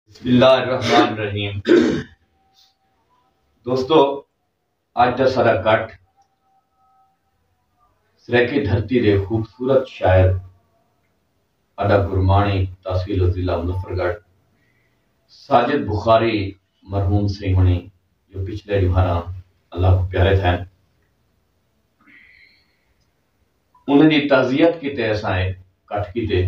بسم اللہ الرحمن الرحیم دوستو آج دا سارا کٹ سریکی دھرتی دے خوبصورت شاعر ادا گرمانی تحصیل و ضلع مظفر گڑھ ساجد بخاری مرحوم سی ہونی جو پچھلے جوہارا اللہ کو پیارے تھے انہیں دی تعزیت کیتے اسائے کٹ کیتے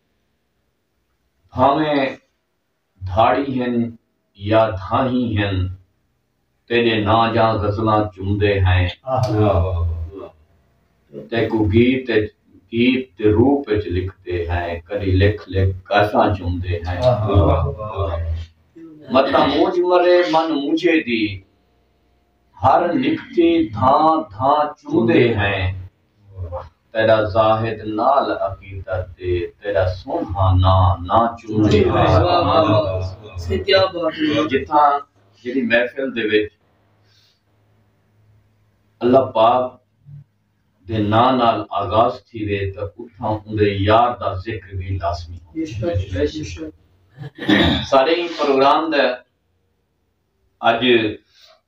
بھانویں دھاڑی ہن یا دھانہی ہن تیݙے ناں جاں غزلاں چمدے ہیں تیکوں گیت اچ گیت دے روپ اچ لکھدے ہیں کݙی لکھ لکھ گاساں چمدے ہیں متاں مونجھ مرے من مونجھے دی ہر نکتی دھاں دھاں چمدے ہیں۔ تیݙا زاہد نال عقیدت دے تیݙا سونہا ناں نہ چومے جتھاں جیڑھی محفل دے وچ اللہ پاک دے ناں نال آغاز تھی وے تے اتھاں اوندے یار دا ذکر بھی لازمی سارے پروگرام دا اج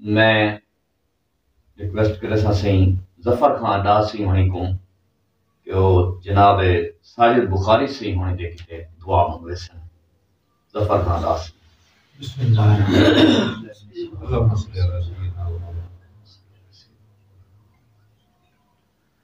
میں ریکویسٹ کریساں سئیں ظفر خان ڈار سئیں ہنڑیں کوں کہ او جناب ساجد بخاری سئیں ہنڑیں دے کیتے دعا منگویسن ظفر خان ڈار سئیں بسم اللہ الرحمن الرحیم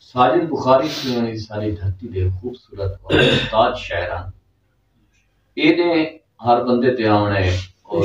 ساجد بخاری سیونی ساری دھرتی دے خوبصورت اور استاد شاعران اے دے ہر بندے تے آونے اور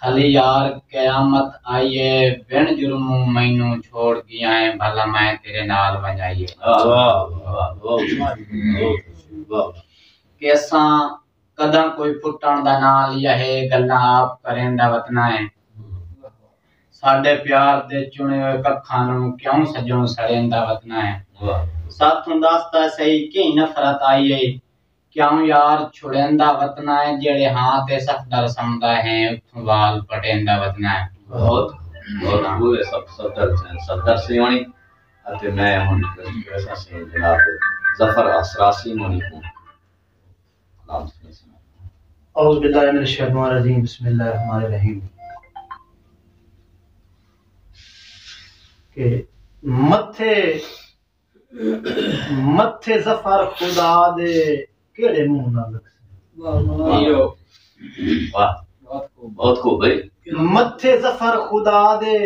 کھلی یار قیامت آئی اے بن جرموں مینوں چھوڑ گیا ایں بھلا میں تیرے نال ونجائی اے۔ کیساں کداں کوئی پٹن دا ناں لیا ہے گلاں آپ کریں دا وتنا اے۔ ساڈے پیار دے چنے ہوئے ککھاں نوں کیوں سجوں سڑیں دا وتنا اے۔ ساتھوں دس تاں سہی کیں نفرت آئی اے کیوں یار چھڑیندا وتنا ہے جیڑھے ہاں تے صفدر سمدا ہیں اتھوں وال پٹیندا وتنا ہے۔ بہت بہت خوب ہے صفدر سین صفدر سین ہونی اتے میں ہن ریکویسٹ سین جناب ظفر اسرار سین ہونی کوں سلام سین سنا دوں۔ اعوذ باللہ من الشیطان الرجیم بسم اللہ الرحمن الرحیم کہ متھے متھے ظفر خدا دے کیڑے منہ نال لکھسے بہت خوب بھائی متھے ظفر خدا دے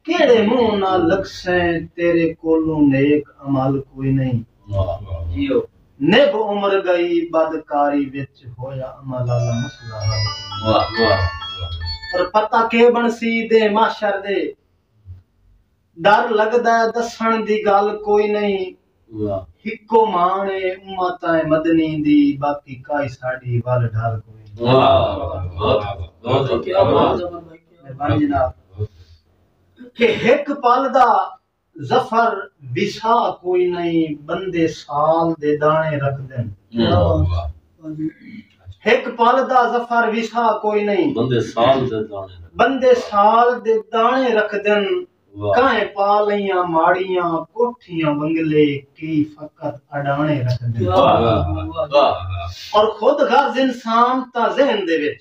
کیڑے منہ نال لکھسے تیرے کولوں نیک عمل کوئی نہیں جیو نب عمر گئی بدکاری وچ ہویا عمل والا مسئلہ حل واہ واہ اور پتہ کے بنسی دے محشر دے ڈر لگدا ہے دسنڑ دی گالھ کوئی نئیں ہکو مان اے امت مدنی دی باقی کائی ساڈی ول ڈر کوئی کہ ہک پل دا ظفر وسا کوئی نئیں بندے سال دے دانے رکھ دن ہک پل دا ظفر وسا کوئی نئیں بندے سال دے دانے بندے سال دے دانے رکھ دن کہیں پالیاں ماڑیاں کوٹھیاں بنگلے کی فقط اڈانے رکھ دن اور خود غرض انسان تا ذہن دے وچ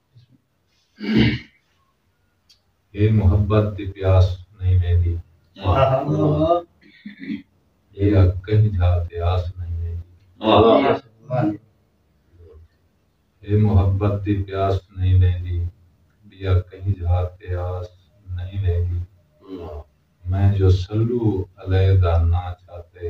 اے محبت دی پیاس نئیں ویندی اے اگ کہیں جھا تے آس نئیں ویندی اے محبت دی پیاس نئیں ویندی بی اگ کہیں جھا تے آس نئیں ویندی میں جو سلو علیحدہ نہ چاہتے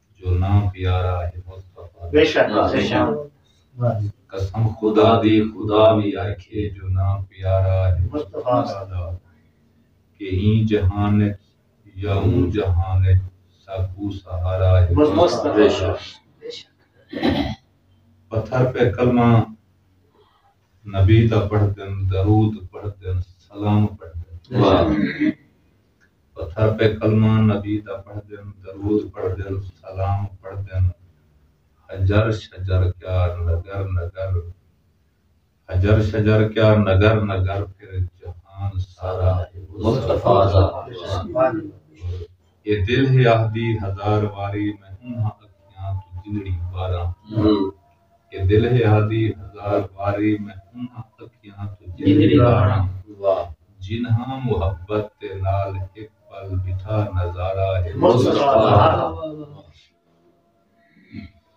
جو نہ پیارا ہے مصطفی بے شک بے شک قسم خدا دی خدا وی آکھے جو نہ پیارا ہے مصطفی ساڈا کہ ایں جہان وچ یا اوں جہان وچ ساکوں سہارا ہے مصطفی بے شک بے شک پتھر پہ کلمہ نبی دا پڑھدن درود پڑھدن سلام پڑھدن واہ پتھر پہ کلمہ نبی دا پڑھدن، درود پڑھدن، سلام پڑھدن، حجر شجر کیا نگر نگر، حجر شجر کیا نگر نگر پھر جہان سارا ہے مصطفی دا فرمان۔ اے دل ہے آہدی ہزار واری میں انہاں اکھیاں توں جنڑی باراں۔ کہ دلہے آدھی ہزار واری میں انہاں اکھیاں توں جھیلدا ہاں جنہاں محبت دے نال ہک پل ڈٹھا نظارہ ہے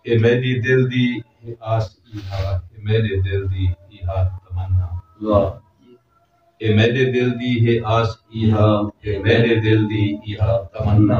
اے میڈی دل دی ہے آس ایہا اے میڈے دل دی ایہا تمنا اے میڈے دل دی ہے آس ایہا اے میڈے دل دی ایہا تمنا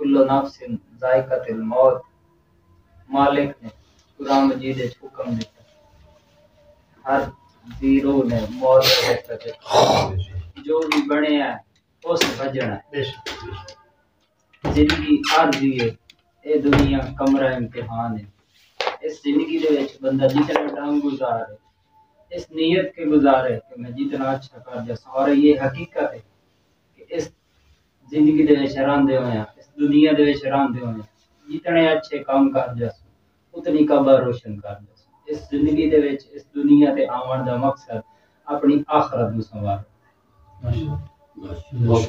کل نفس ذائقۃ الموت مالک نے قرآن مجید وچ حکم ݙتا ہر ذی روح نے موت دا ذائقہ چکھݨا جو وی بݨیا ہے اس بھجݨا ہے زندگی عارضی ہے اے دنیا کمرہ امتحان ہے اس زندگی دے وچ بندہ جتنا ڈنگ گزار ہے اس نیت کے گزارے کہ میں جتنا اچھا کر جا سارے یہ حقیقت ہے کہ اس زندگی دے وچ رہندے ہوئیاں اس دنیا دے وچ رہندے ہوئیاں جتنے اچھے کم کر جاسوں اتنی قبر روشن کر جاسوں اس زندگی دے وچ اس دنیا تے آوݨ دا مقصد اپݨی آخرت نوں سنوارو بہت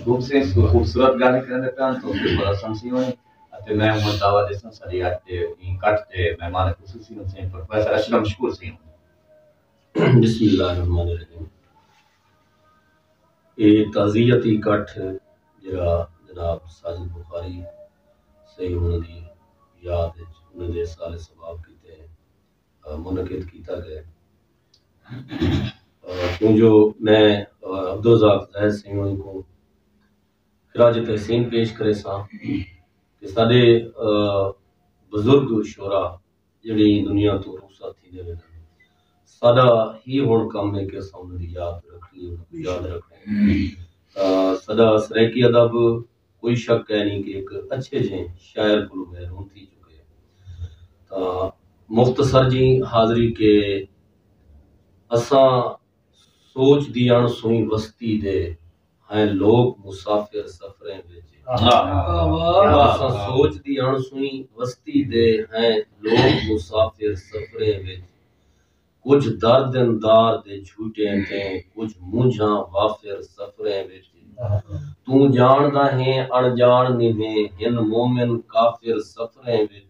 خوبصورت گالیں کرندے پے ہن توفیق بڑا سمسی ہوئیں اتے میں ہوں دعویٰ دیساں ساری آج دے این کٹ دے مہمان خصوصی ہوں سین پروفیسر اشرم شکور سین بسم اللہ الرحمن الرحیم اے تعزیتی کٹھ جیرھا جناب ساجد بخاری سئیں ہوراں دی یاد اچ انہاں دے ایصال ثواب کیتے منعقد کیتا ڳئے کیوں جو میں عبدالرزاق زاہد سئیں ہوراں کوں خراج تحسین پیش کریساں کہ ساڈے بزرگ شعرا جیہڑے ایں دنیا توں رخصت تھیندے ویندن۔ ساڈا ہی ہنڑ کم ہے کہ اساں انہاں دی یاد رکھنڑی ہے، انہاں کوں یاد رکھنڑا ہے۔ ساڈا سرائیکی ادب کوئی شک کائنی کہ ہک اچھے جہیں شاعر کولوں محروم تھی چکے ہے۔ تاں مختصر جی حاضری کہ اساں سوچ دی اݨ سوئیں وستی دے۔ ہیں لوک مسافر سفریں وچ تساں سوچ دی اݨ سوئیں وستی دے ہیں لوک مسافر سفریں وچ کجھ درد اندار دے جھوٹیں تے کجھ مونجھاں وافر سفریں وچ توں جاندا ہیں اݨ جان نبھیں ہن مومن کافر سفریں وچ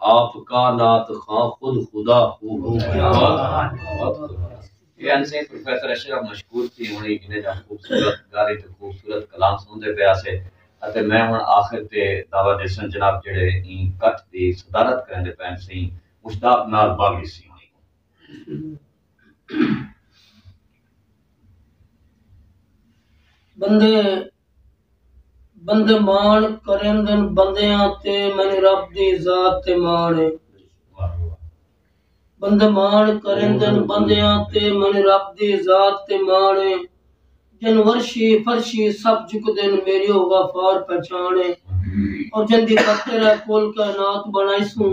آپ کا نات خاں خود خدا ہو یہ انسے پروفیسر اشرف مشکور تھی ہونی انہیں جہاں خوبصورت گاری تو خوبصورت کلام سندے پہ آسے اتے میں ہون آخر تے دعویٰ دیسن جناب جڑے این کٹ دی صدارت کریں دے پہن سین مشتاق نال باغی سی ہونی بندے بندے ماݨ کریندن بندیاں تے مینوں رب دی ذات تے ماݨ ہے بندے ماݨ کریندن بندیاں تے مینوں رب دی ذات تے ماݨ ہے جن ورشی فرشی سب جھک دین میری او غفار پہچان ہے اور جن دی خاطر ہے کل کائنات بنائی سوں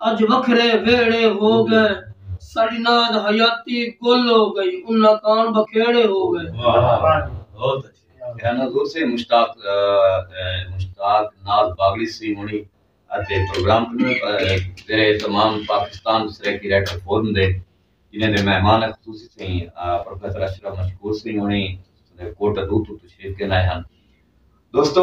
اڄ وکھرے ویہڑے ہو ڳئے ساݙی ناد حیاتی گل ہو ڳئی انہاں کان بکھیڑے ہو ڳئے۔ بہت اچھے کیا نظور سے مشتاق مشتاق ناز باغڑی سی ہونی اتے پروگرام کنوں تیرے تمام پاکستان سرائیکی رائٹر فورم دے جنہیں دے مہمان خصوصی سیں پروفیسر اشرف مشکور سی ہونی کوٹہ دو تو تشریف کے نائے ہن دوستو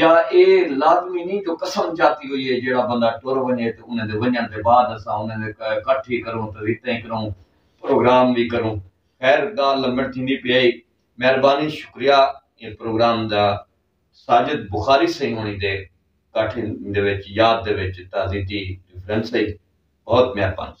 یا ایہ لازمی نی جو قسم جاتی ہوئی ہے جیہڑا بندہ ٹر ونجے تے انہاں دے ونجݨ دے بعد اساں انہاں دے کٹھ وی کروں تے ریتیں کروں پروگرام وی کروں خیر گالھ لمبڑ تھیندی پئی ہئی مہربانی شکریہ ایں پروگرام دا ساجد بخاری سئیں ہوݨی دے کٹھ دے وچ یاد دے وچ تازیتی ریفرنس ہئی بہت مہربانی۔